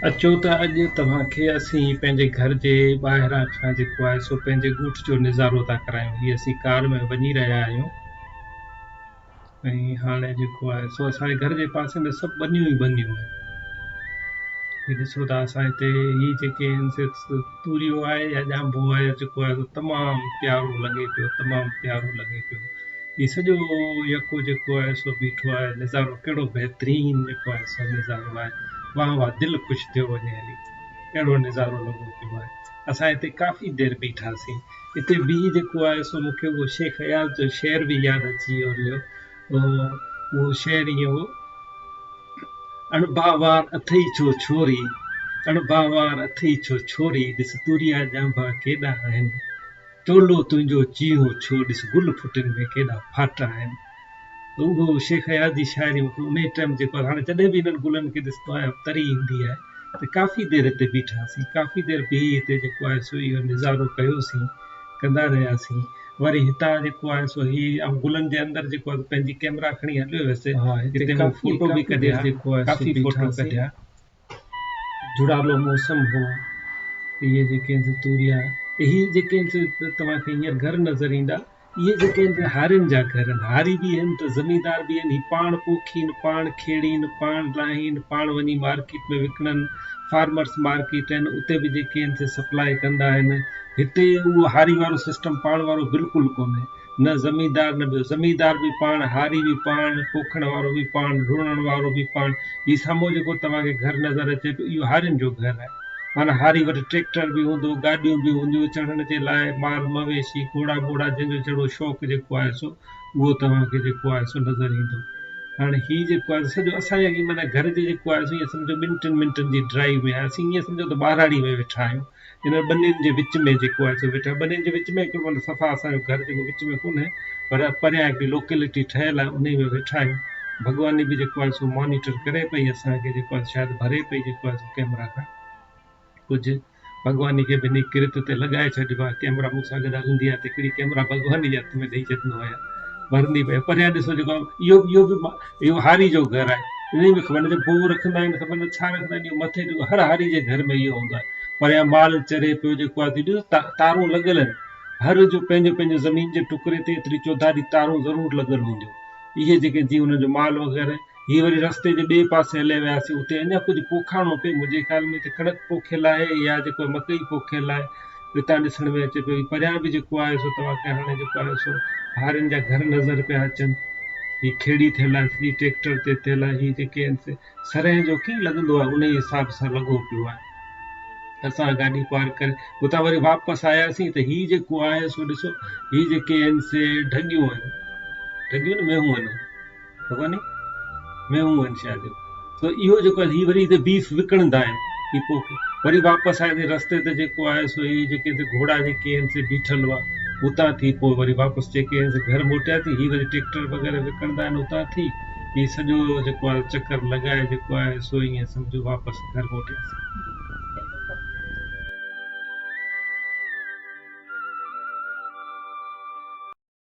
اچو ته اڄ توهان کي اسين پنهنجي گهر جي ٻاهران کان جيڪو آهي سو پنهنجي ڳوٺ جو نظارو ٿا ڪرايون هي اسين ڪار ۾ وڃي رهيا آهيون ۽ هاڻي جيڪو آهي سو اسان جي گهر جي پاسي ۾ سڀ ٻنيون ئي ٻنيون آهن هي ڏسو ته اسان هتي هي جيڪي آهن سي توريو آهي يا ڄانڀو آهي يا چڪو آهي سو تمام پيارو لڳي پيو تمام پيارو لڳي پيو هي سڄو يڪو جيڪو آهي سو بيٺو آهي نظارو ڪهڙو بهترين جيڪو آهي سو نظارو آهي واهه واهه دل خوش ٿيو وڃي هلي اهڙو نظارو لڳو پيو آهي اسان هتي ڪافي دير بيٺاسين هتي بيهي جيڪو آهي سو مون کي اهو شيخ اياز جو شعر به ياد اچي ويو پوء اهو شعر ائين هو، اڻڀاوار اٿئي ڇو ڇوري، اڻڀاوار اٿئي ڇو ڇوري، ڏس توريا ڄانڀا ڪيڏا آهن، ٽولو تنهنجو چيهو ڇو، ڏس گل ڦٽن ۾ ڪيڏا ڦاٽا آهن. ته اهو شيخ اياز جي شاعري مون کي انهيء ٽائيم جيڪو آهي هاڻي جڏهن به انهن گلن کي ڏسندو آهيان تري ايندي آهي ته ڪافي دير هتي بيٺاسين ڪافي دير بيهي هتي جيڪو آهي سو اهو نظارو ڪيوسين ڪندا رهياسين وري هتان جيڪو آهي سو هي آئون گلن جي اندر جيڪو آهي پنهنجي ڪئميرا کڻي هليو ويس جتي مون فوٽو به ڪڍيا جيڪو آهي ڪافي فوٽو ڪڍيا جھڙالو موسم هو اهي جيڪي آهن سي توريا اهي جيڪي آهن سي توهان کي هينئر گھر نظر ايندا اهي جيڪي آهن سي هارين جا گھر آهن هاري به آهن ته زميندار به آهن هي پاڻ پوکين پاڻ کيڙين پاڻ لاهين پاڻ وڃي مارڪيٽ ۾ وڪڻن فارمرس مارڪيٽ آهن اتي به جيڪي آهن سي سپلاء ڪندا آهن هتي اهو هاري وارو سسٽم پاڻ وارو بلڪل ڪونهي. نه زميندار نه ٻيو. زميندار به پاڻ، هاري به پاڻ، پوکڻ وارو به پاڻ، رڙڻ وارو به پاڻ. هي سامهون جيڪو توهان کي گهر نظر اچي پيو، اهو هارين جو گهر آهي. معنيٰ هاري وٽ ٽريڪٽر به هوندو، گاڏيون به هونديون، چڙهڻ جي لاء مال مويشي، گهوڙا ٻوڙا، جنهن جو جهڙو شوق جيڪو آهي سو اهو توهان کي جيڪو آهي سو نظر ايندو. هاڻي هي جيڪو آهي سو سڄو اسان جي معنيٰ گهر جي جيڪو آهي سو ائين سمجهو ٻن ٽن منٽن جي ڊرائيو ۾ آهي. اسين ائين سمجهو ته ٻهراڙي ۾ ويٺا آهيون. انهن ٻنين جي وچ ۾ جيڪو آهي سو ويٺا ٻنين جي وچ ۾ مطلب صفا اسان جو گهر جيڪو وچ ۾ ڪونهي پر پريان هڪڙي لوڪيلٽي ٺهيل آهي انهي ۾ ويٺا آهيون ڀڳواني به جيڪو آهي سو مانيٽر ڪري پئي اسان کي جيڪو آهي شايد ڀري پئي جيڪو آهي سو ڪيمرا کان ڪجهه ڀڳواني کي به انهي ڪرت تي لڳائي ڇڏبو آهي ڪيمرا مون سان گڏ هلندي آهي ته هڪڙي ڪيمرا ڀڳواني جي هٿ ۾ ڏئي ڇڏيندو آهيان ڀرندي پئي پريان ڏسو جيڪو اهو اهو به اهو هاري جو گهر آهي انهي ۾ خبر نه ته بوء رکندا آهن خبر نه ڇا رکندا آهن اهو مٿي جو هر هاري جي گهر ۾ اهو هوندو آهي پريان مال چري پيو جيڪو آهي ڏس تا تارون لڳل آهن هر جو پنهنجو پنهنجو زمين جي ٽڪري تي ايتري چوڌاري تارون ضرور لڳل هونديون اهي جيڪي جي ان جو مال وغيره هي وري رستي جي ٻئي پاسي هليا وياسي اتي اڃا ڪجهه پوکاڻو پئي منهنجي خيال ۾ ته ڪڻڪ پوکيل آهي يا جيڪو مڪئي پوکيل آهي اتان ڏسڻ ۾ اچي پيو پريان به جيڪو آهي سو توهان کي هاڻي جيڪو آهي سو هارين جا گهر نظر پيا اچن هي کيڙي ٿيل آهي هي ٽريڪٽر تي ٿيل آهي هي جيڪي آهن سي سرهين جو ڪيئن لڳندو آهي انهي حساب سان لڳو پيو آهي اسان گاڏي پارڪ ڪري اتان وري واپس آياسين ته هي جيڪو آهي سو ڏسو هي جيڪي آهن سي ڍڳيون آهن ڍڳيون نه مينهون آهن ڪونهي ۾ هو انشاء جو سو اهو جيڪو هي وري هتي بيف وڪڻندا آهن هي پوکي وري واپس آئي هتي رستي تي جيڪو آهي سو هي جيڪي هتي گهوڙا جيڪي آهن سي بيٺل هئا اتان ٿي پوء وري واپس جيڪي آهن سي گهر موٽيا ٿي هي وري ٽيڪٽر وغيره وڪڻندا آهن اتان ٿي هي سڄو جيڪو آهي چڪر لڳائي جيڪو آهي سو ائين سمجھو واپس گهر موٽياسي